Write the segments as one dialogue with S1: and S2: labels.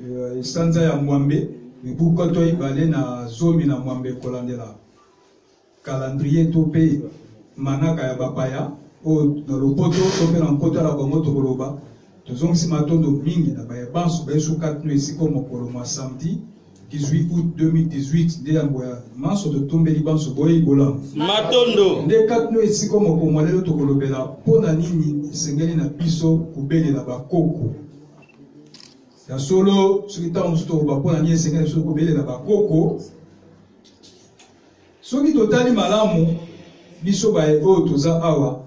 S1: Eh, sanza ya mwambe mibu nkoto ibale na zomi na mwambe kolandela kalandrie to mpe manaka ya bapaya oyo na lopoto to mpe na nkota na bango tokoloba tozongisi matondo mingi na baye banso baesuka tino esika mokolo mwa samedi 18 août 2018 nde yango ya manso totombeli banso boyei bolamu matondo nde
S2: kati no esika
S1: moko mwa lelo tokolobela mpo na nini esengeli na biso kobelela bakoko ya solo soki ntango mosusu toloba mpo na nini esengeli biso kobelela bakoko soki totali malamu biso baye oyo toza awa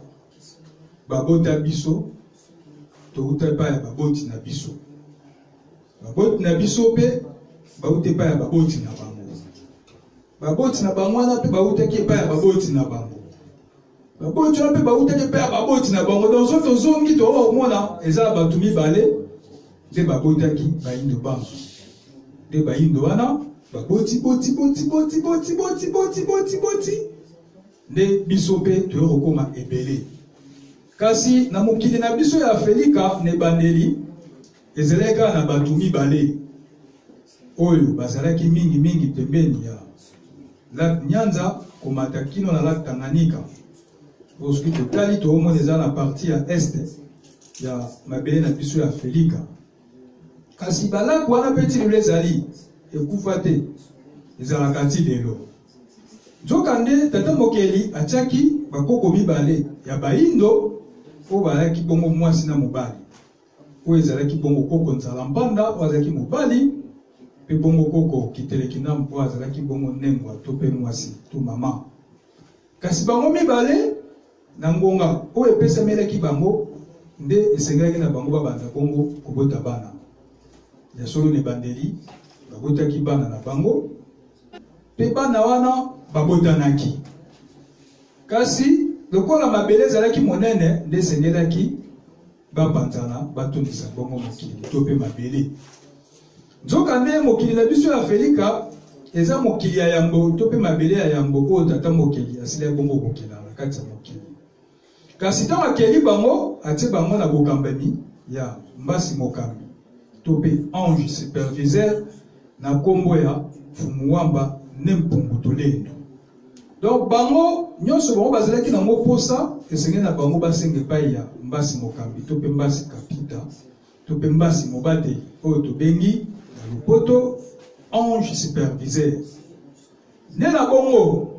S1: babota biso touta epai ya baboti na biso baboti na biso mpe bauta epai ya baboti na bango baboti na bango wana mpe bautaki epai ya baboti na bango baboti wana mpe bautaki mpe ya baboti na bango donc soki tozongi tokomona eza na bato mibale nde babotaki bayindo banso nde bayindo wana baboti boti boti boti boti boti boti boti boti nde biso mpe toyei kokoma ebele kasi na mokili na biso ya afrika na ebandeli ezalaki kaka na bato mibale oyo bazalaki mingi mingi pembeni ya lac Nyanza komata kino na lac Tanganyika. Bosoki totali toomona eza na parti ya est ya mabele na biso ya Afrika. Kasi balak wana mpe ti lelo ezali ekufa te, ezalaka ti lelo. Nzokande tata mokeli atiaki bakoko mibale ya baindo oyo balaki bongo mwasi na mobali. oyo ezalaki bongo koko nzala mpanda oyo azalaki mobali mpe bongo koko kitelekina mpo azalaki bongo nengwa to mpe mwasi to mama kasi bango mibale na ngonga oyo epesamelaki bango nde esengelaki na bango babanda bongo kobota bana ya solo na ebandeli babotaki bana na bango mpe bana wana babotanaki kasi lokola mabele ezalaki monene nde esengelaki bapanzana batondisa bongo mokili to mpe mabele nzokande mokili na biso ya afelika eza mokili ya yambo to mpe mabele ya yambo oyo tata mokili asila bongo kokela na kati ya mokili kasi ntango akeli bango atie bango na bokambami ya mbasi mokambi to mpe ange superviseur na nkombo ya fumuwamba ne mpungu tolendo donc bango nyonso bango bazalaki nango mposa esengeli na bango basenga epai ya mbasi mokambi to mpe mbasi kapita to mpe mbasi mobateli oyo tobengi na lopoto ange superviseur nde na bongo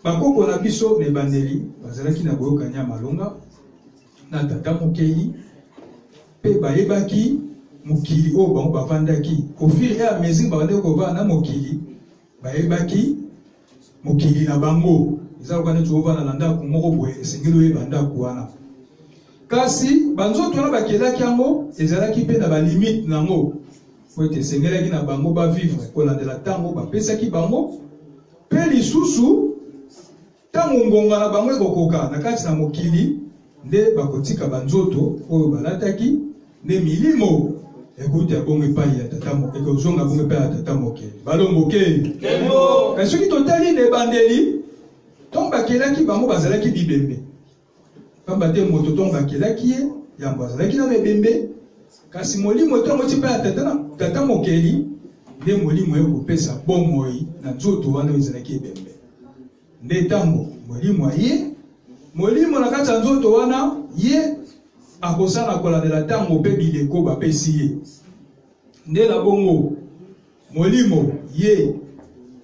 S1: bakoko na biso na ebandeli bazalaki na boyokani ya malonga na tata mokeli mpe bayebaki mokili oyo bango bafandaki au fur et à mesure babandaki kovanda na mokili bayebaki mokili na bango eza lokola neti ovanda na ndako moko boye esengeli oyeba ndako wana kasi banzoto wana bakelaki yango ezalaki mpe na balimite na yango po ete esengelaki na bango bavivre kolandela ntango bapesaki bango mpe lisusu Ntango ngonga na bango ekokoka na kati na mokili, nde bakotika banzoto oyo balataki, nde milimo ekouta bongo epai ya tata moke ekozonga bongo epai ya tata moke balongoke kasi soki totali na ebandeli ntango bakelaki bango bazalaki bibembe Pamba te moto ntongo bakelaki ye, yambo azalaki nano ebembe, kasi Molimo ntongo oti mpe ya tata, na, tata mokeli, nde Molimo ye kopesa bomoi na nzoto wana oyo ezalaki ebembe. Nde ntango Molimo aye, Molimo na kati ya nzoto wana, ye akosala kolandela ntango mpe bileko bapesi ye. Nde na bongo Molimo ye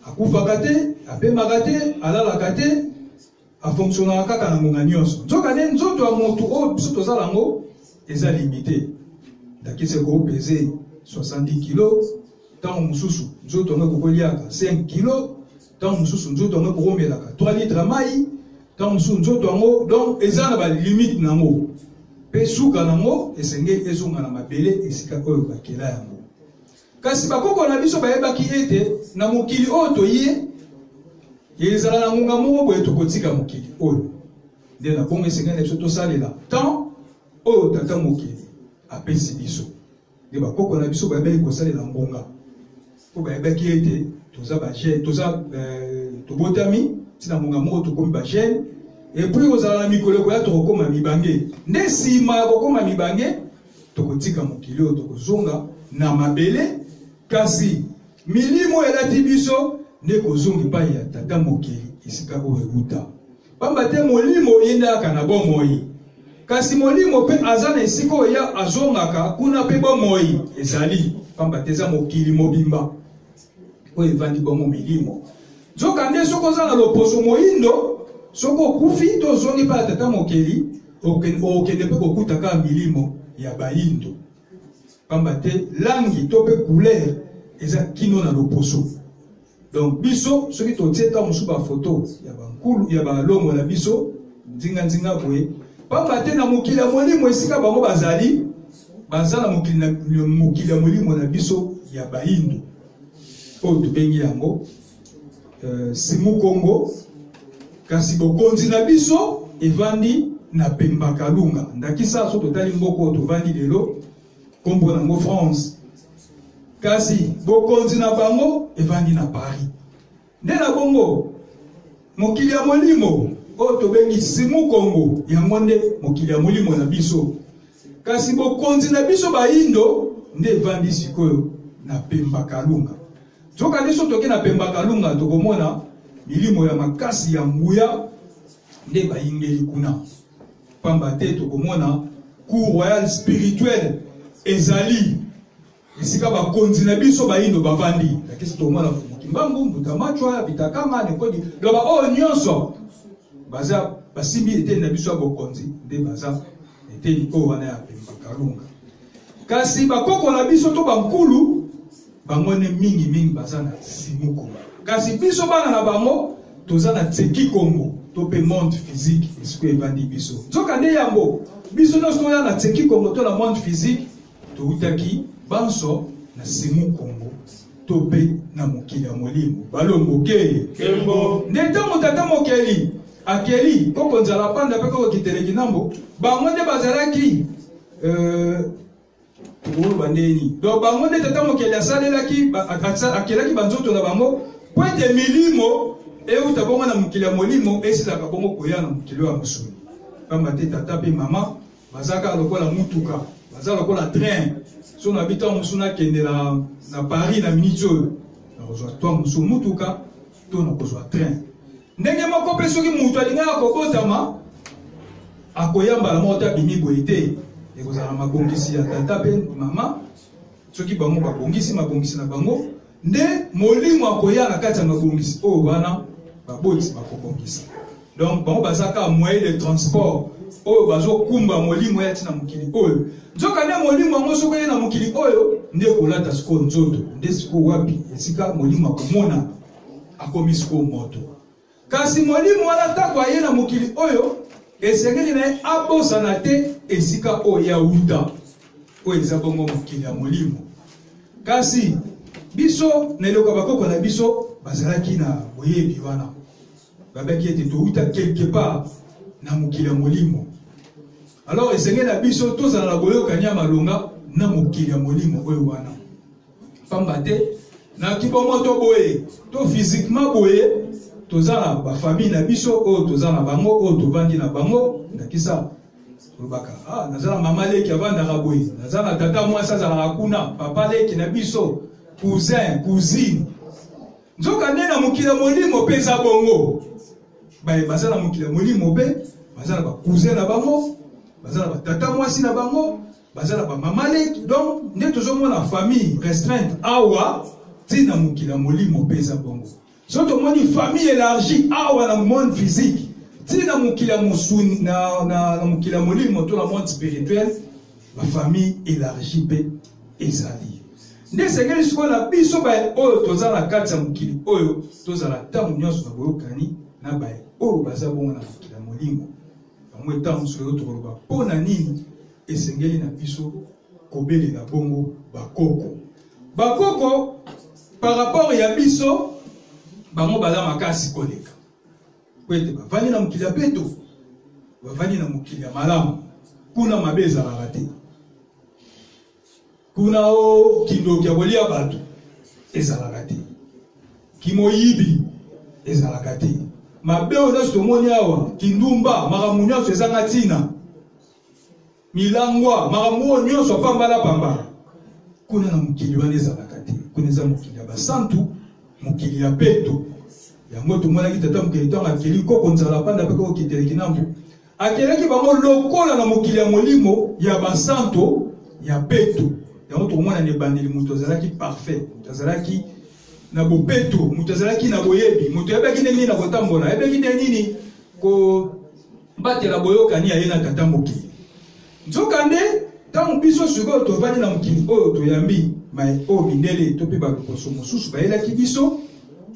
S1: akufaka te, apemaka te, alalaka te, afonctionaka kaka na ngonga nyonso nzokande nzoto ya moto oyo biso toza nango eza limite ndakisa ekopeze 70 kilo ntango mosusu nzoto yango ekokoliaka 5 kilo ntango mosusu nzoto yango ekokomelaka 3 litre ya mai ntango mosusu nzoto yango donc eza na balimite na yango mpe suka na yango esengeli ezonga na mabele esika oyo bakela yango Kasi bakoko na biso bayebaki ete na mokili oyo toye ezala na ngonga moko boye tokotika mokili oyo nde na bongo esengeli na biso tosalela temps oyo tata mokili apesi biso nde bakoko na biso bayebaki kosalela ngonga mpo bayebaki ete toza bagene toza euh, tobotami ntina ngonga moko tokomi bagene epui kozala na mikolo ekoya tokokoma mibange nde nsima ya kokoma mibange tokotika mokili oyo tokozonga na mabele kasi milimo elati biso nde ekozonga epai ya tata mokili esika oyo ewuta mpamba te molimo eyendaka na bomoi kasi molimo mpe aza na esika oyo ya azongaka kuna mpe bomoi ezali mpamba te eza mokili mobimba oyo evandi bongo milimo nzokande soki oza na loposo moindo soki okufi to ozongi mpe ya tata mokeli okende mpe kokuta kaka milimo ya bayindo pamba te langi to mpe couleur eza kino na loposo donc biso soki totie ntango mosusu bafoto ya bankulu ya balongo na biso nzinganzinga boye pamba te na mokili ya molimo esika bango bazali baza na mokili ya molimo na biso ya bayindo oyo tobengi yango euh, simu kongo kasi bokonzi na biso evandi na pemba kalunga ndakisa so totali mboka oyo tovandi lelo nkombo nango france kasi bokonzi na bango evandi na paris nde na bongo mokili ya molimo oyo tobengi simu kongo yango nde mokili ya molimo na biso kasi bokonzi na biso bayindo nde evandi sikoyo na pemba kalunga Nzoka nde soki toke na Pemba Kalunga tokomona milimo ya makasi ya nguya nde bayingeli kuna pamba te tokomona cour royal spirituel ezali esika bakonzi na biso bayindo bavandi lakisi tokomona kimbangu mbutamachwa bitakama nekodi loba oyo nyonso baza basimbi eteni na biso ya bokonzi nde baza eteni oyo wana ya pemba kalunga kasi bakoko na biso to bankulu bango nde mingimingi baza na simuku kasi biso bana na bango toza na tseki kongo to mpe monde physique esiko evandi biso nzoka nde yango biso nyonso toya na tseki kongo to na monde physique toutaki banso na simu kongo to mpe na mokili ya molimo balongo ke nde ntango tata mokeli akeli koko nzala panda mpe koko kiteleki nambo bango nde bazalaki euh, tokoloba nde nini donc bango nde tata mokeli asalelaki akelaki banzoto na bango mpo ete milimo euta bongo na mokili ya molimo esilaka bongo koya na mokili oyo ya mosuni mpamba te tata mpe mama baza kaka lokola motuka baza lokola train so na bito mosusu nakende na paris na miniti oyo nakozwa to mosusu motuka to nakozwa train ndenge moko mpe soki moto alingaka kobotama akoya mbala moko te abimi boye te ekozala mabongisi ya tata mpe mama soki bango babongisi mabongisi na bango nde molimo akoya na kati ya mabongisi oyo wana baboti bakobongisa donc bango baza kaka moyen de transport oyo bazokumba molimo ya ntina mokili oyo nzoka nde molimo yango soki eye na mokili oyo nde kolata sikoyo nzoto nde sikoyo wapi esika molimo akomona akomi sikoyo moto kasi molimo wana ntango aye na mokili oyo esengeli na ye abosana te esika oyo ya wuta oyo eza bongo mokili ya molimo kasi biso na eloko ya bakoko na biso bazalaki na boyebi wana babaki ete towuta quelque part na mokili ya molimo alors esengeli na biso tozala na boyokani ya malonga na mokili ya molimo oyo wana pamba te na kibongo to boye to physiquement boye toza na bafamille na biso oyo toza na bango oyo tovandi na bango ndakisa olobaka ah, naza na mama leki avandaka boye naza na tata mwasi azalaka kuna papa leki na biso cousin cousine nzoka nde na mokili ya molimo mpe eza bongo baye baza na mokili ya molimo mpe baza na bacousin na bango baza na batata mwasi na bango baza na bamama leki donc nde tozomona famille restreinte awa ntina mokili ya molimo mpe eza bongo so tomoni famille élargie awa na monde physique ntina mokili ya mosuni na, na, na mokili ya molimo to na monde spirituel bafamille élargie mpe ezali nde esengeli sikoyo na biso baye oyo toza na kati ya mokili oyo tozala ntango nyonso na boyokani na baye oyo baza bongo na mokili ya molimo yango etat mosusu lelo tokoloba mpo na nini esengeli na biso kobelela bongo bakoko bakoko par rapport ya biso bango baza makasi koleka mpo ete bavandi na mokili ya peto bavandi na mokili ya malamu kuna mabe ezalaka te kuna o kindoki ya kolia bato ezalaka te kimoyibi ezalaka te mabe oyo nyonso tomoni awa kindumba makambo nyonso ezanga ntina milangwa makambo oyo nyonso apambalapambala kuna na mokili wana ezalaka te kuna eza mokili ya basantu mokili ya peto yango tomonaki tata mokili ntango akeli koko nzala panda mpe kokiteleki na mbu Akelaki bango lokola na mokili ya molimo ya basanto ya peto. Yango tokomona na ebandeli moto azalaki parfait, moto azalaki na bopeto, moto azalaki na boyebi, moto ayebaki ndenge nini na kotambola, ayebaki ndenge nini kobatela boyokani ya ye na tata mokili. nzokande ntango biso sikoyo tofandi na mokili oyo toyambi mai oyo mindele to mpe baposo mosusu bayelaki biso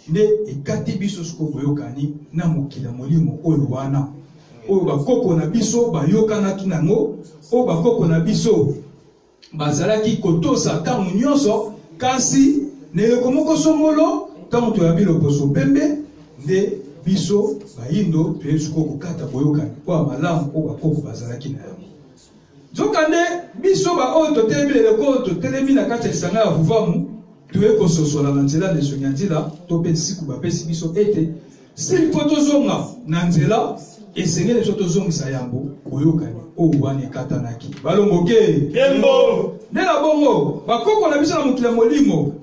S1: nde ekati biso sikoyo boyokani na mokili ya molimo oyo wana oyo bakoko na biso bayokanaki nango oyo bakoko na biso bazalaki kotosa ntango nyonso kasi na eleko moko songolo ntango toyambi loposo pembe nde biso bayindo toyebi sikoyo kokata boyokani mpo ya malamu oyo bakoko bazalaki na yango nzokande biso baoyo totelemi leleko oyo totelemi na kati ya lisanga ya vuvamu toye kososola na nzela na esongi ya nzela to mpe nsiku bapesi biso ete sili mpo tozonga na nzela esengeli biso tozongisa yambo boyokani oyo wana ekatanaki balongoke nde na bongo bakoko na biso na mokili ya molimo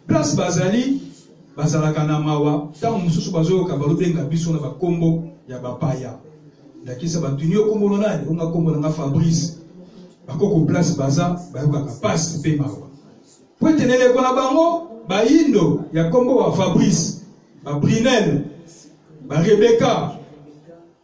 S1: place bazali bazalaka na mawa ntango mosusu bazoyoka balobenga biso na bakombo ya bapaya ndakisa batuni yo kombo na nani onga kombo na nga fabrice bakoko place baza bayokaka mpasi mpe mawa mpo ete na eleko na bango bayindo ya kombo wa fabrice babrinel barebeka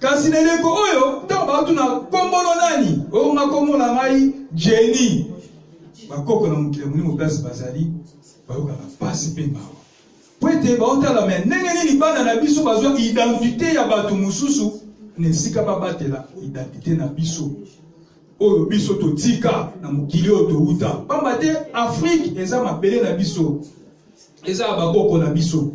S1: kasi na eleko oyo ntango batuna nkombono nani oyo makomona ngai jeni bakoko na mokili ya molimo place bazali bayokaka mpasi mpe mawa mpo ete baotala me ndenge nini bana na biso bazwa identite ya bato mosusu na esika babatela identite na biso oyo biso totika na mokili oyo towuta mpamba te afrike eza mabele na biso eza ya bakoko na biso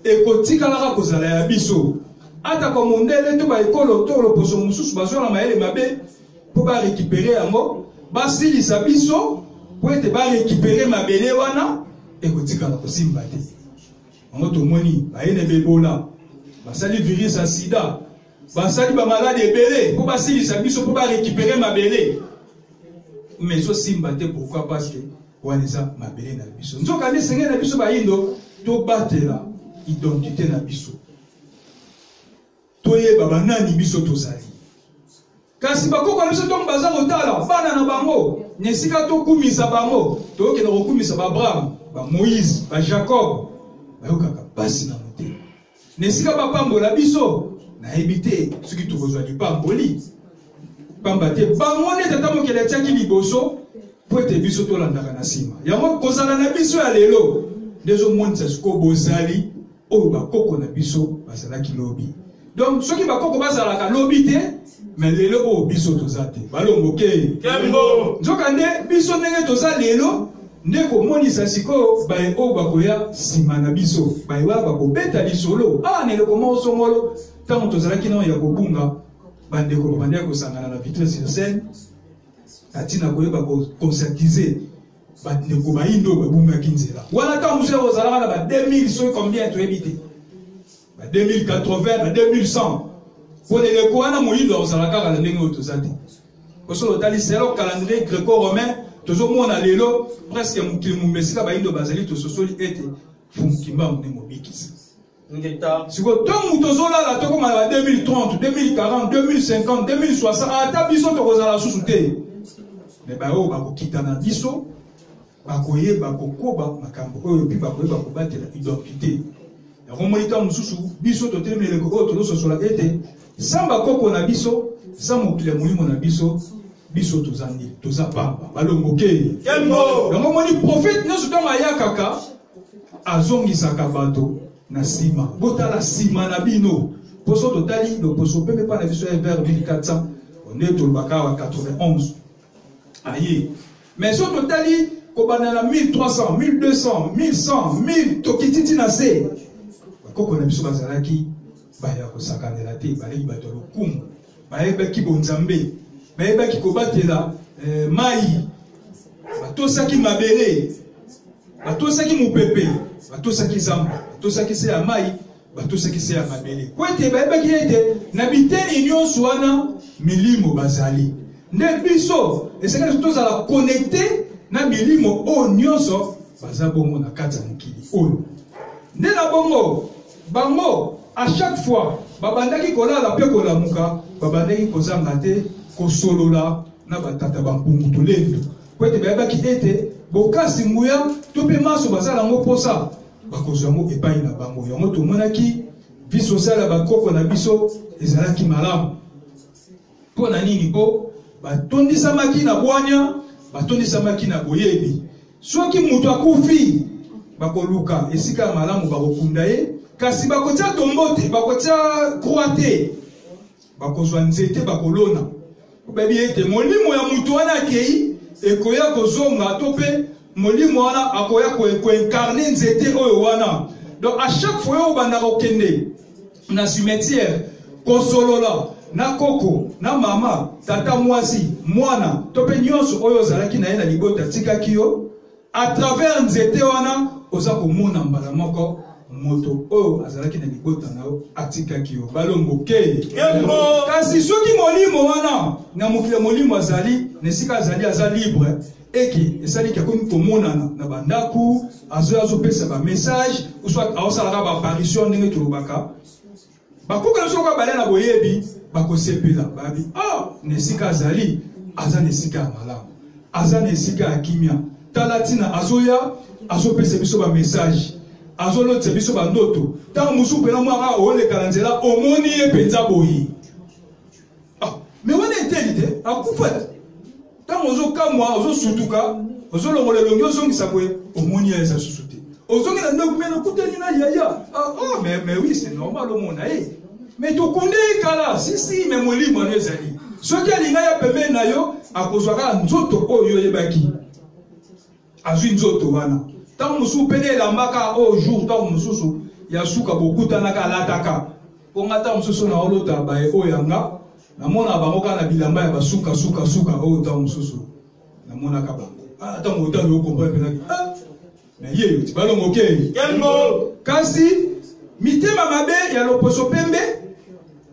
S1: ekotikalaka kozala ya biso atako mondele to baekolo to loposo mosusu bazwa na mayele mabe mpo barekipere yango basilisa biso mpo ete barekipere mabele wana ekotikala kosimba te yango tomoni baye na bebola basali virus ya sida basali bamaladi ebele mpo basilisa biso mpo barekipere mabele mais ezosimba te pourquoi parce que wana eza mabele na biso nzokande esengeli na biso bayindo tobatela identite na biso toyeba banani biso tozali kasi bakoko na biso ntongo baza kotala bana na bango na esika tokumisa bango tokokenda kokumisa baabraham bamoïse bajacob bayokaka mpasi na na esika bapambola biso nayebi te soki tokozwa lipamboli pamba te bango nde tata mokeli atyaki liboso mpo ete biso tolandaka na nsima yango kozala na biso ya lelo nde ezomonisa sikoyo bozali oyo bakoko na biso bazalaki lobi donc soki bakoko bazalaka lobi te me lelo oyo biso toza te balongoke kembo nzokande biso ndenge toza lelo nde komonisa sikoyo baye oyo bakoya nsima na biso baye wana bakobeta lisolo awa ah, na eloko moko songolo ntango tozalaki nao ya kobunga bandeko babandaki kosangana na vitre sur scène na ntina koyeba koconscientize bandeko bayindo babungaki nzela wana ntango mosusu ozalaka na ba 2000 soki combien toyebi te ba 2080 ba 2100 mpo na eleko wana moyindo akozala kaka na ndenge oyo toza te osoki otali selo calendrier greco-romain tozomona lelo presque mokili mumba esika bayindo bazali tososoli ete fumukimbangu nde mobikisi sikoyo ntango tozolala tokoma na 2030 2040 2050 2060 ata biso tokozala susu te me baoyo bakokita na biso bakoyeba kokoba makambo oyo mpe bakoyeba kobatela identite yango omoni ntango mosusu biso totelemi eleko oyo tozososola ete sa bakoko na biso sa mokili ya molimo na biso biso toza nde toza pamba balongokei yango omoni profete nyonso ntango ayakaka azongisaka bato na nsima botala nsima na bino mposo totali loposo mpe mepa na biso ya vers 1400 nde tolobaka awa 91 aye mais soki totali kobanda na 1300 1200 1100 1000 tokiti ti na se bakoko na biso bazalaki baye ya kosakanela te baleki bato ya lokumu bayebaki bonzambe bayebaki kobatela eh, mai batosaki mabele batosaki mopepe batosaki zamba batosaki se ya mai batosaki se ya mabele mpo ete bayebaki ete na biteni nyonso wana milimo bazali nde biso esengeli tozala konekte na milimo oyo nyonso baza bongo na kati ya mokili oyo nde na bongo bango a chaque fois babandaki kolala mpe kolamuka babandaki kozanga te kosolola na batata bampungu tolendo mpo ete bayebaki ete bokasi nguya to mpe manso baza yango mposa bakozwa yango epai na bango yango tomonaki vie sociale ya bakoko na biso ezalaki malamu mpo na nini mpo batondisamaki na bwanya batondisamaki na boyebi soki moto akufi bakoluka esika ya malamu bakokunda ye kasi bakotia tombo te bakotia krwa te bakozwa nzete bakolona bayebi ete molimo ya moto wana akei ekoya kozonga to mpe molimo wana akoya koincarne nzete oyo wana donc à chaque fois oyo obandaka kokende na cimetière kosolola na koko na mama tata mwasi mwana to mpe nyonso oyo ozalaki na ye na libota atikaki yo à travers nzete wana oza komona mbala moko moto oyo azalaki na libota na yo atikaki yo balomboke kasi soki molimo wana na mokili ya molimo azali na esika azali aza libre eke esaliki akomi komonana na bandako azoya azopesa bamessage uso aosalaka baapparition ndenge tolobaka bakuka nyonso oyo babale na boyebi bakosepela babi o oh, na esika azali aza na esika ya malamu aza na esika ya kimia tala ntina azoya azopesa biso bamessage azolotisa biso bandoto ntango mosusu mpena mwaka oleka na nzela omoni ye mpenza boye ah, me wana eteli te akufa te ntango ozokamwa ozosutuka ozolongola elongi ozongisa boye omoni ya eza susu te ozongi na ndako me nakutani na yaya ah, oh, mais, mais oui c'est normal omona ye eh. mais tokunde ye kala sisi me molimo wana ezali soki alinga ya pembeni na yo akozwa kaka nzoto oyo oyebaki azwi nzoto wana ntango mosusu mpe nde elambaka oyo oh, jour ntango mosusu ya suka bokutanaka alataka mpo nga ntango mosusu naolota baye oyo yanga namona bango kaka na bilamba ya basuka suka suka oyo oh, ntango mosusu namonaka bango ah, ntango otali okomprene mpenaki ah, na ye yo ti balongo okei kasi mitema mabe ya loposo pembe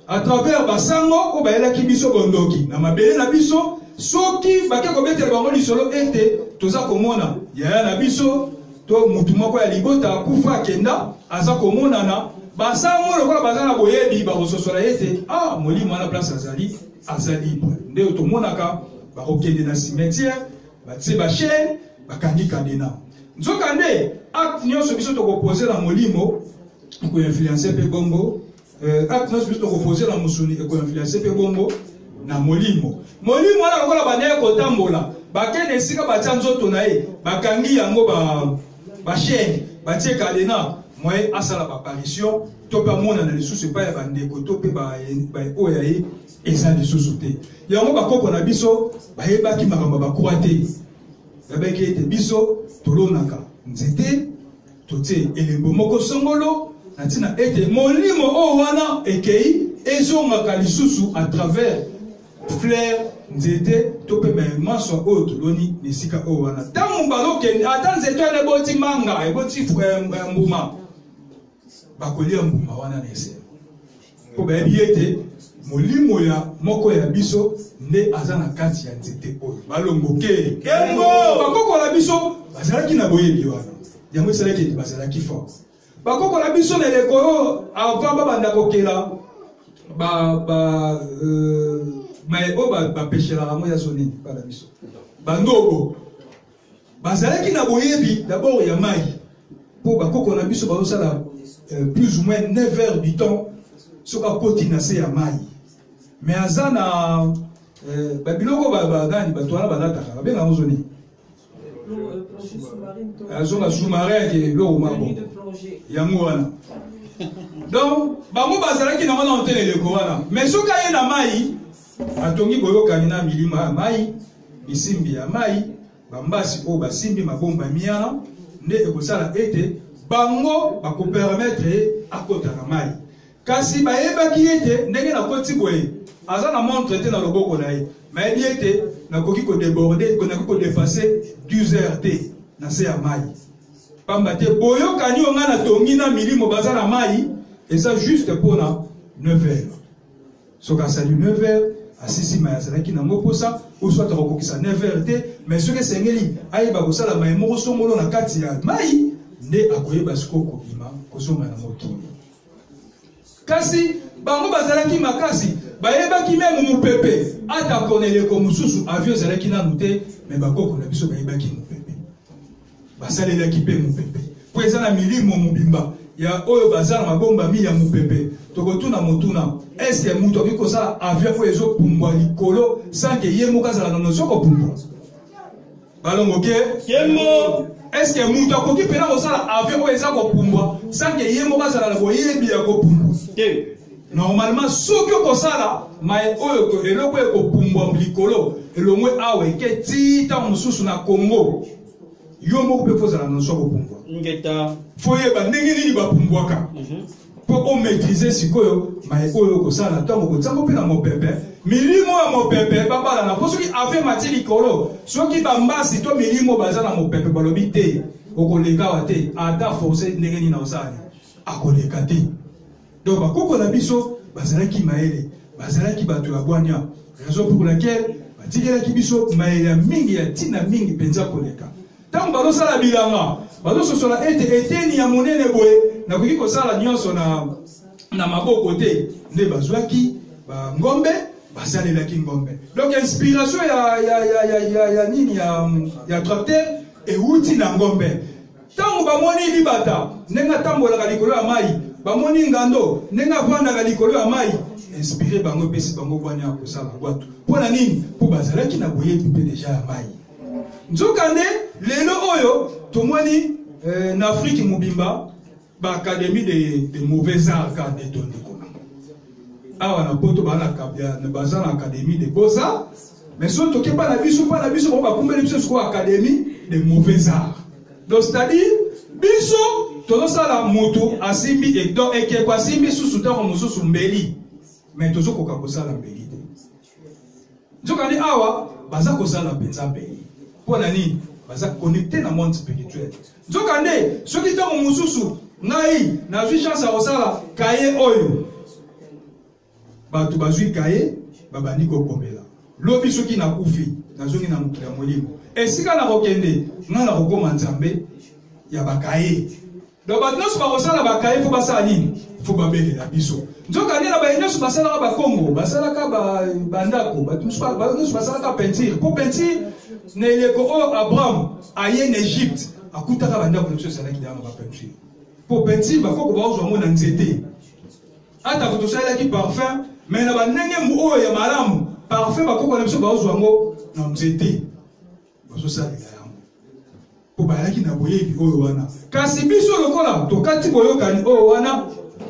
S1: à travers basango oyo bayelaki biso bondoki na mabele na biso soki bake kobetela bango lisolo ete toza komona yaya na biso to motu moko ya libota akufa akenda aza komonana basango lokola baza na boyebi bakososola ye te ah molimo wana place azali aza libre nde tomonaka bakokende na cimetière batie bachaine bakangi kadena nzokande acte nyonso biso tokopose na molimo ekoinfluence mpe bongo Euh, acte nyonso biso tokopoze na mosuni ekoinfluence mpe bongo na molimo molimo wana lokola bandaki kotambola bakende esika batya nzoto na ye bakangi yango bashene ba batie kadena moye asala baparisio to mpe amonana lisusu epai ya bandeko to mpe baoyo ya ye eza lisusu te yango bakoko na biso bayebaki makambo ya bakwa te yabaki ete biso tolonaka nzete totie elembo moko songolo na ntina ete molimo oyo wana ekei ezongaka lisusu à travers fleur nzete to mpe mamaswa oyo toloni na esika oyo wana ntango mbala okende ata nzete wana eboti manga eboti eh, eh, mbuma bakolia mbuma wana na esengo mpo bayebi ye ete molimo ya moko ya biso nde aza na kati ya nzete oyo balongoke bakoko na biso bazalaki na boyebi wana yango esalaki ete bazalaki fort bakoko na biso na eleko oyo avant babanda kokela ba ba euh, maye oyo bapeshelaka yango ya zonini bana biso bandobo bazalaki na boyebi d'abord ya mai mpo bakoko na biso bazosala euh, plus ou moins 9 heures du temps soki akoti na se ya mai mais aza na euh, babiloko bagani bato wana balataka babenga yango zoni azonga euh, sous-marin ake eloko mabo yango wana donc bango bazalaki na wana otele eleko wana mais soki aye na mai Atongi boyokani na milima ya mai, misimbi ya mai, bambasi oyo basimbi mabomba miana nde ekosala ete bango bakopermetre ye akota na mai kasi bayebaki ete ndenge nakoti boye aza na montre te na loboko na ye mayebi ete nakoki kodeborde nakoki kodefase 12 heures te na se ya mai pamba te boyokani oyo ngai natongi na milimo baza na mai eza juste mpona 9 heures soki asali 9 heures asisi mai azalaki nango mposa oso ata kokokisa 9 heures te mais soki esengeli ayeba kosala mai moko songolo na kati ya mai nde akoyeba sikoyo kobima kozonga na mokili kasi bango bazalaki makasi bayebaki meme mopepe ata koneleko mosusu avio ezalaki nanu te me bakoko na biso bayebaki mopepe basalelaki mpe mopepe mpo eza na milimo mobimba ya oyo baza na mabombami ya mopepe tokotuna motuna eske moto akoki kosala avion oyo ezopumbwa likolo sanke ye moko azala na nozo kopumbwa balongo ke kembo eske moto akoki mpena kosala avion oyo eza kopumbwa sanke ye moko azala na boyebi ya kopumbwa te normalement soki okosala maye oyo to eloko ekopumbwa likolo elongwe awa eke ti ntango mosusu na congo yo moko mpe kozala na nso kopumbwa foyeba ndenge nini bapumbwaka mpo mhm. omaîtrise sikoyo maye oyo okosala ntango kotiango mpe na mopepe milimo ya mopepe babalana mpo soki ave mati likolo soki bambasi to milimo baza na mopepe balobi te okoleka wa te ata force ndenge nini na osali akoleka te donc bakoko na biso bazalaki mayele bazalaki bato ya bwanya raison pour laquelle batikelaki biso mayele ya mingi ya ntina mingi mpenza koleka ntango bazosala bilanga bazososola ete eteni ya monene boye nakoki kosala nyonso na, na maboko te nde bazwaki bangombe basalelaki ngombe donc inspiration ya, ya, ya, ya, ya, ya nini ya, ya tracteur euti na ngombe ntango bamoni libata ndenge atambolaka likolo ya mai bamoni ngando ndenge afandaka likolo ya mai inspire bango epesi bango bwanya ya kosala bwato mpo na nini mpo bazalaki na boyebi mpe deja ya mai nzokande lelo oyo tomoni eh, na afrike mobimba baakademi de, de mauvais art ka detondeko awa na poto baza na akademi de beaux arts mais soki toke mpa na biso mpa na biso bango bakumbeli biso sikoyo académie de mauvais art donc c'est-à-dire biso tozosala motu asimbi donc ekeko asimbi susu ntango mosusu mbeli mais tozokoka kosala mbeli te nzokani awa baza kosala mpenza mbeli mpo na nini baza connecte na monde spirituel nzokande soki ntango mosusu ngai nazwi chance ya kosala kaye oyo bato bazwi kaye babandi kokomela lobi soki nakufi nazongi na mokili ya molimo esika nakokende ngai nakokoma nzambe ya bakaye donc bato nyonso bakosala bakaye mpo basala nini mpo babelela biso nzokande na baye nyonso basalaka bakongo basalaka bandako bato nyonso basalaka peinture mpo peinture na eleko oyo abraham aye na egypte akutaka bandako na biso ezalaki deya na bapeinture mpo peinture bakoko baozwa yango na nzete atako tosalelaki parfum me na bandenge oyo ya malamu parfum bakoko na biso baozwa yango na nzete bazosalela yango mpo bayalaki na boyebi oyo wana kasi biso lokola tokati boyokani oyo wana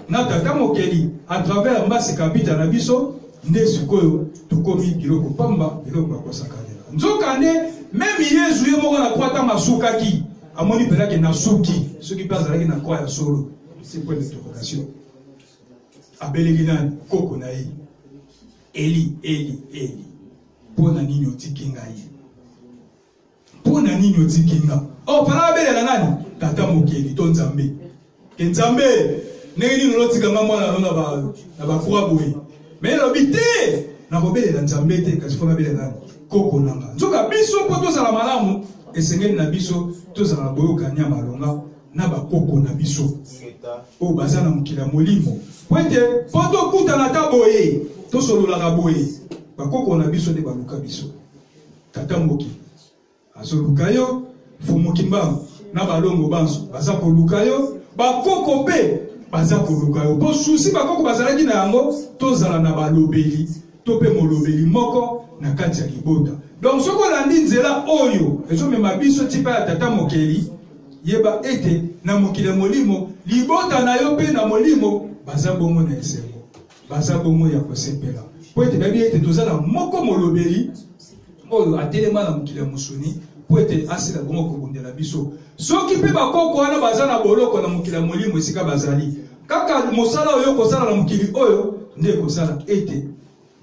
S1: na tata mokeli à travers mbasi kapita na biso nde sikoyo tokomi biloko pamba biloko ya kosakanela nzokande meme yezu ye moko na kwa ntango asukaki amoni mpenza ke nasuki soki mpe azalaki na kwa ya solo c'est point d'interrogation abeleli na koko na ye eli eli eli mpo na nini otiki ngai mpo na nini otiki nga o oh, fana abelela nani tata mokeli to nzambe ke nzambe ndenge nini olotika nga mwana no na bakwa boye me elobi te nakobelela nzambe te kasi mpo nabelela nani koko na nga nzoka biso mpo tozala malamu esengeli na biso tozala na boyokani ya malonga na bakoko na biso oyo baza na mokili ya molimo po ete mpo tokutana ata boye tosololaka boye bakoko na biso nde baluka biso tata moki azoluka yo fumuki mbango na balongo banso baza koluka yo bakoko mpe baza koluka yo mpo susi bakoko bazalaki na yango tozala na balobeli to mpe molobeli moko na kati ya libota donc soki olandi nzela oyo ezomema biso tipa ya tata mokeli yeba ete na mokili ya molimo libota na yo mpe na molimo baza bongo na esengo baza bongo ya kosepela mpo ete bayebi ete toza na moko molobeli oyo atelema na mokili ya mosuni mpo ete asila bongo kobundela biso soki mpe bakoko wana baza na boloko na mokili ya molimo esika bazali kaka mosala oyo kosala na mokili oyo nde ekosala ete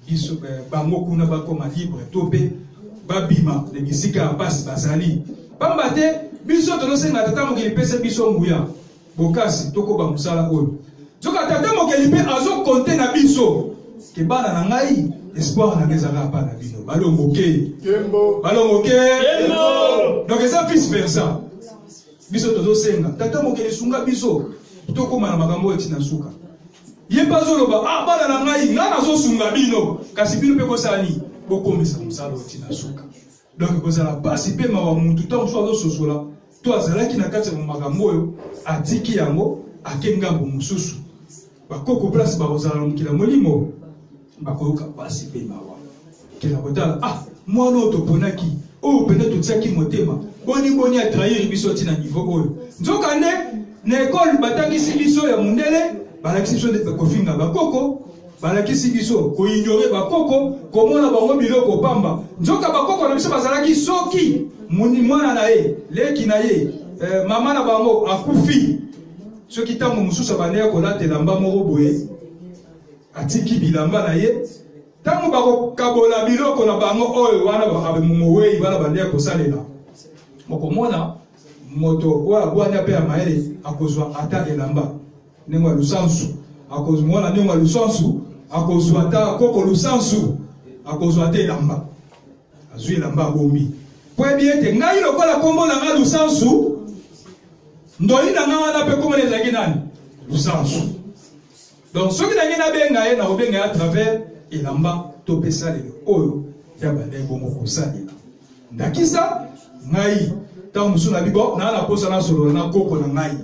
S1: biso eh, bango kuna bakoma libre to mpe babima na bisika ya mpasi bazali mpamba te biso tozosenga tata mokili pesa biso nguya bokasi tokoba mosala oyo nzoka tata mokeli mpe azokonte na biso ke bana na ngai espoir na ngai ezalaka bana bino balongoke balongoke donc eza vice versa biso tozosenga tata mokeli sunga biso tokóma na makambo oyo ntina suka ye mpe azoloba ah bana na ngai ngai nazosunga bino kasi bino mpe kosala nini bokomisa mosala oyo ntina suka donc ekozala mpasi mpe mawa mutu ntango mosusu azososola to azalaki na kati ya makambo oyo atiki yango ake ngambo mosusu bakoko place bakozala na mokili ya molimo bakoyoka mpasi mpe mawa kenda kotala ah mwana oyo toponaki oyo mpenza totiaki motema boni boni atrahiri biso ti na nivo oyo nzokande na ekole batangisi biso ya mondele balakisi biso nde kofinga bakoko balakisi biso koignore bakoko komona bango biloko pamba nzoka bakoko na biso bazalaki soki mwana na ye leki na ye eh, mama na bango akufi soki ntango mosusu abanda ya kolata elamba moko boye atiki bilamba na ye ntango bakokabola biloko na bango oyo wana mowei wana banda ya kosalela okomona moto oyo abwanya mpe ya mayele akozwa ata elamba ndenge ya lusansu akozwa mwana ndenge ya lusansu akozwa ata koko lusansu akozwa ata elamba azwi elamba abombi mpo yebi ete ngai lokola nkombo na ngai lusansu ndoli na ngai wana mpe nkombo na ezalaki nani lusansu donc soki nangi nabenga ye nakobenga ye à travers elamba to mpe salelo oyo ya bandai bongo kosalela ndakisa ngai ntango mosusu na bibo naa na mposa nasolola na koko na ngai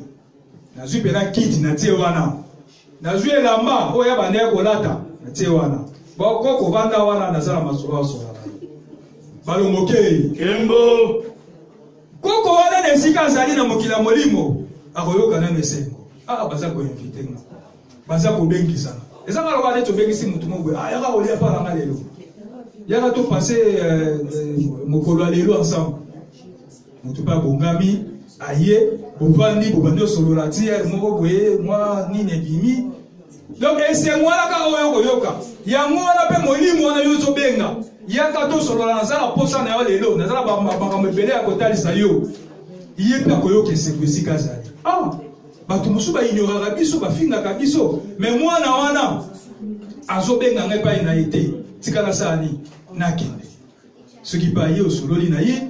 S1: nazwi mpena kiti na tie wana nazwi elamba oyo ya banda ya kolata na tie wana boko kovanda wana naza na masolo asola balongokei kembo koko wana na esika azali na mokili ya molimo akoyoka nano esengo aa ah, baza koinvite nga baza kobengisana eza nga loba neti obengisi motu moko boye ah, yaka kolia mpa nanga lelo yaka topase euh, euh, mokolo ya lelo ensemble moto mpe abongami aye bovandi bobandi osolola ti eh, moko boye mwa nini ebimi donc esengo wana kaka oyo okoyoka yango wana mpe molimo wana yo ozobenga yaka tosolola naza na mposa na yo lelo naza na makambo ebele ya kotalisa yo ye mpe akoyoka esengo esika azali ah, bato mosusu baignoraka biso bafingaka biso me mwana wana azobenga ngai epai na ye te tika nasala nini nakende soki mpe aye osololi na ye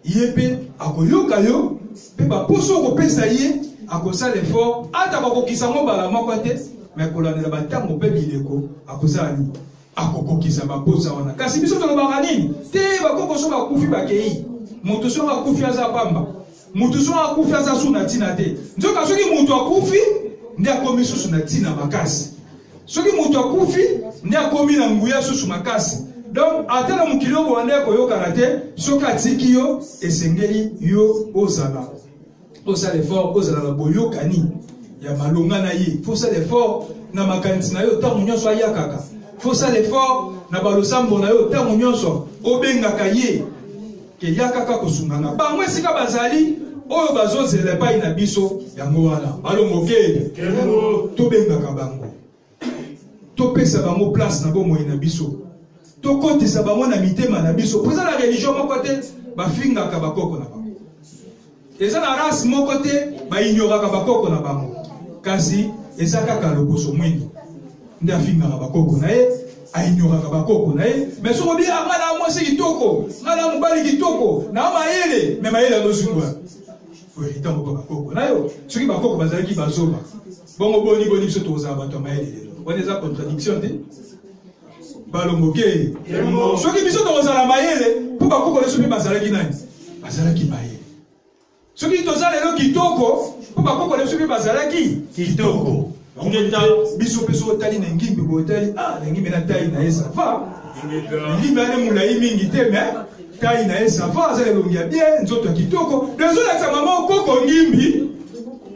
S1: ye mpe akoyoka yo mpe baposo okopesa ye akosala effort ata bakokisa yango mbala moko te me kolandela bantango mpe bileko akozala nini akokokisa baposa wana kasi biso tolobaka nini te bakoko so bakufi bakei moto soki akufi aza pamba moto soki akufi aza su na ntina te nzoka soki moto akufi nde akomi susu na ntina makasi soki moto akufi nde akomi na nguya susu makasi donc ata na mokili oyo bowanda ya koyokana te soki atiki yo esengeli yo ozala osala effort ozala na boyokani ya malonga na ye fo osala effort na makanisi na yo ntango nyonso ayakaka fo osala effort na balosambo na yo ntango nyonso obengaka ye ke ya kaka kosunga nga bango esika bazali oyo bazozela epai na biso yango wana balongoke tobengaka bango topesa bango place na bomoi na biso tokotisa bango na mitema na biso mpo eza na religio moko te bafingaka bakoko na bango eza na race moko te baignoraka bakoko na bango kasi eza kaka lokoso mwingi nde afingaka bakoko na ye ainyoraka bakoko na ye me soki obi ah, nga na mwasi kitoko nga na mobali kitoko na mayele me mayele azozungwa oyetango mpo bakoko na yo soki bakoko bazalaki bazoba bongo boni boni biso tokozala bato ya mayele lelo wana eza contradiction te balongoke soki biso tokozala mayele mpo bakoko nyonso mpe bazalaki nani bazalaki mayele soki toza lelo kitoko mpo bakoko nyonso mpe bazalaki kitoko biso mpe soki otali na ngimbi boye otali a ah, na ngimbi na tai na ye sava na ngimbi ane molai mingi te me tai na ye sava aza elongi ya bie nzoto ya kitoko ezolakisa mama okoko ngimbi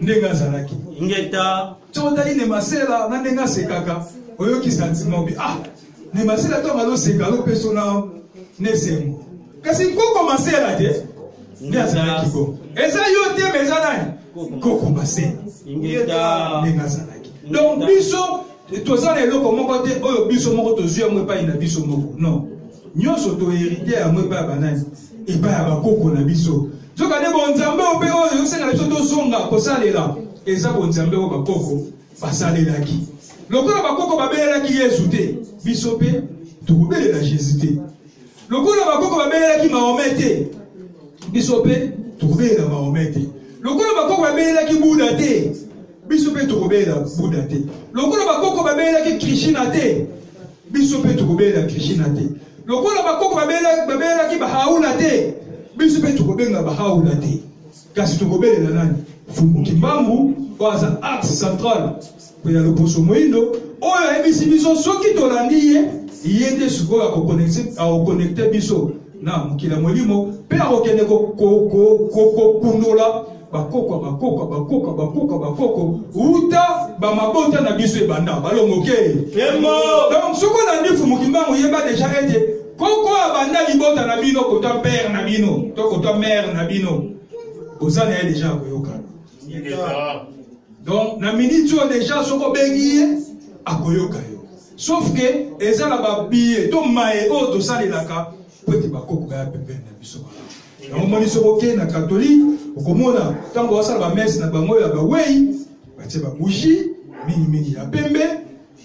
S1: ndenge azalaki ingeta soki otali nemasela na ndenge asekaka oyoki santima obi ah nemasela ntango azoseka alopeso na nesengo kasi nkoko masela te nde azalaki ko eza yo te ma eza nani nkoko masela ndenge azalaki donc biso toza na eloko moko te oyo biso moko tozwi yango epai na biso moko non nyonso toherite yango epai ya banani epai ya bakoko na biso nzokande bonzambe oyo mpe oyo ezosenga biso tozonga kosalela eza bonzambe oyo bakoko basalelaki lokola bakoko babelelaki yesu te biso mpe tokobelela jésus te lokola bakoko babelelaki mahome te biso mpe tokobelela mahome te lokola bakoko babelelaki buda te biso mpe tokobelela buda te lokola bakoko babelelaki krishina te biso mpe tokobelela krishina te lokola bakoko babelelaki bahaula te biso mpe tokobenga bahaula te kasi tokobelela nani fumu kimbangu oyo aza axe central mpe ya loposo moindo oyo ayebisi biso soki tolandi ye ye nde sikoyo akokonekte biso na mokili ya molimo mpe akokende kokundola bakoko bakoko bakoko bakoko bakoko uta bamabota na biso ebanda balongoke donc soki olandi fumukimbangu yeba deja ete koko abanda libota na bino kota pere na bino to kota mere na bino oza na ye deja ya koyoka donc na miniti oyo deja soki obengi ye akoyoka yo sauf ke eza na babiye to maye oyo tosalelaka mpo ete bakoko baya pembeni na biso malamu yango moni soki okei na katolike okomona ntango basala bamese na bango ya bawei batie babushi mingimingi ya pembe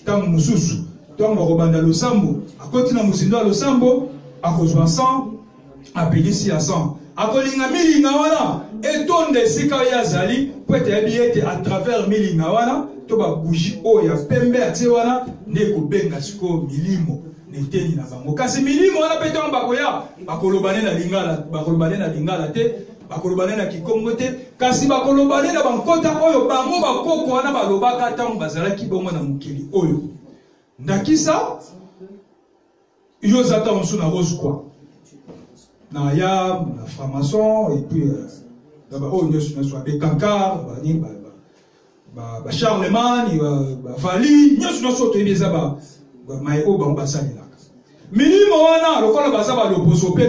S1: ntango mosusu ntango bakobanda losambo akoti na mozindo ya losambo akozwa san apelisi ya san akolinga milinga wana etonda esika ye azali mpo ete ayebi ete à travers milinga wana to babushi oyo ya pembe atie wana nde ekobenga sikoyo milimo na eteni na bango kasi milimo wana mpe ntango bakoya bakoloba nde na lingala bakoloba nde na lingala te bakoloba nde na kikongo te kasi bakoloba nde na bankota oyo bango bakoko wana balobaka ntango bazalaki bongo na mokili oyo ndakisa yo oza ntango mosusu na rosekwa na ya na franc-maçon epuis euh, na baoyo nyonso nyonso ya bekankar banini ba, ba charlemagne bavali nyonso nyonso toyebi eza bamaye oyo bango basalelaka milimo wana lokola baza baloposo mpe